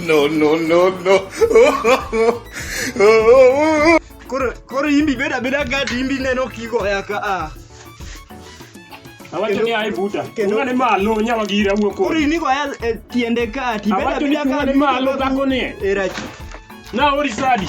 no, no, no, no. koro koro imbi beda beda gadi imbi neno kigo ya ka a Awacho ni ai buta. Kendo- Ungane malo nyalo gira wuo koro kodi. ini go ya e, tiende ka ti beda Awacho ni beda ungane gadi malo dhako ni. era Na ori sadi.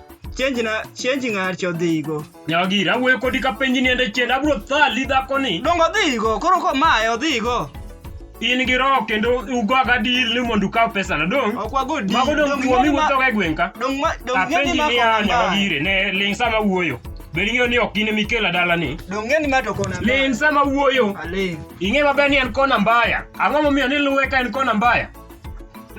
Change na change ng'ar chodhigo. Nyagi rawuoyo kodi ka penji niende chien abro thali dhako ni. Dongo dhigo koro ko mae odhigo. In gi roho kendo ugoga deal ni mondo ukaw pesa na dong. Ok wago deal. Mago dong kuomi wuotho ga e gweng' ka. Dong ma dong ng'eni ma ko nyagi ire ne ling sama wuoyo. Bed ing'eyo ni ok gine mikela dala ni. Dong ng'eni ma to kona. Ling sama wuoyo. Aling. Ing'e maber ni en kona mbaya. Ang'o momiyo ni luwe ka en kona mbaya?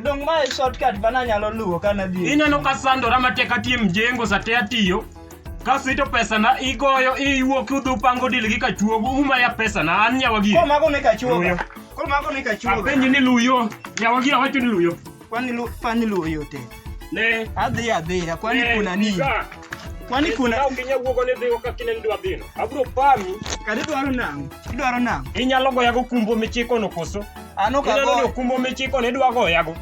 Dong mae shortcut ma nanyalo luwo ka nadhi. e- Ineno ka sandora matek atiyo e mjengo sate atiyo. Kasito pesana igoyo iwuok idhi upango dil gi kachuogo uma ya pesana an nyawa gi. Koro mago ne kachuoga. Luyo. Koro mago ne kachuoga. Apenji ni luyo. Nyawa gi awacho ni luyo. Kwani lu kwani luwo yote. Ne. Adhi adhiya kwani ne, kuna nini? ika. Kwani kuna Ka onge nyawuogo ni dhigo ka kineni dwa dhino. Abro pami. kadi dwaro nang'o? Idwaro nang'o? Inyalo goyago kumbo michikono koso? Ano ka go. Ino kumbo michiko ne dwa go yago.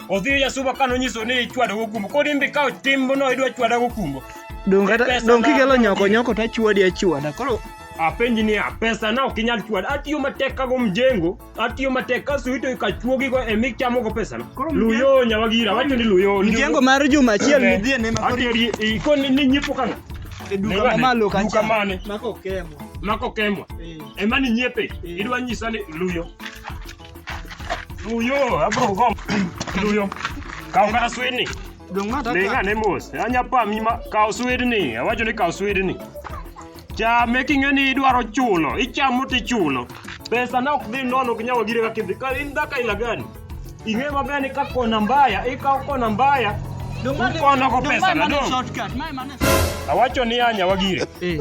Odhi ya suba kano nyiso ni ichwado go kumbo. Kodi mbi ka timbo no idwa chwada go kumbo. Dong kata dong kigelo nyoko nyoko ta chwadi achwada. Koro apenji ni pesa na okinyal chwad atiyo matek kago mjengo atiyo matek kaso ito ikachuogi go e michamo go pesa no luyo nyawagira wacho ni luyo mjengo mar juma achiel midhie ne ma atiyo ikon ni nyipo kana e duka mamalo kacha mako kemo mako kemo Ema ni nyiepe. Eh. Idwa nyisa ni luyo. Luyo, abro gom. Luyo. Kaw kata swidni. Dong ma taka. Ninga ne mos. Anya pa mi ma kaw swidni. Awacho ni kaw swidni. Chame king'e ni idwaro chulo. Ichamo tichulo. Pesa na ok dhi nono ok nyawa gire kaka idhi. Ka in dhaka ila gani? Ing'e maber ni ka kona mbaya, ikaw kona mbaya. Dong ma ne- Ukono ko dong pesa ma na ne dong. shortcut, ma ema ne- Awacho ni anya wagire. Eh.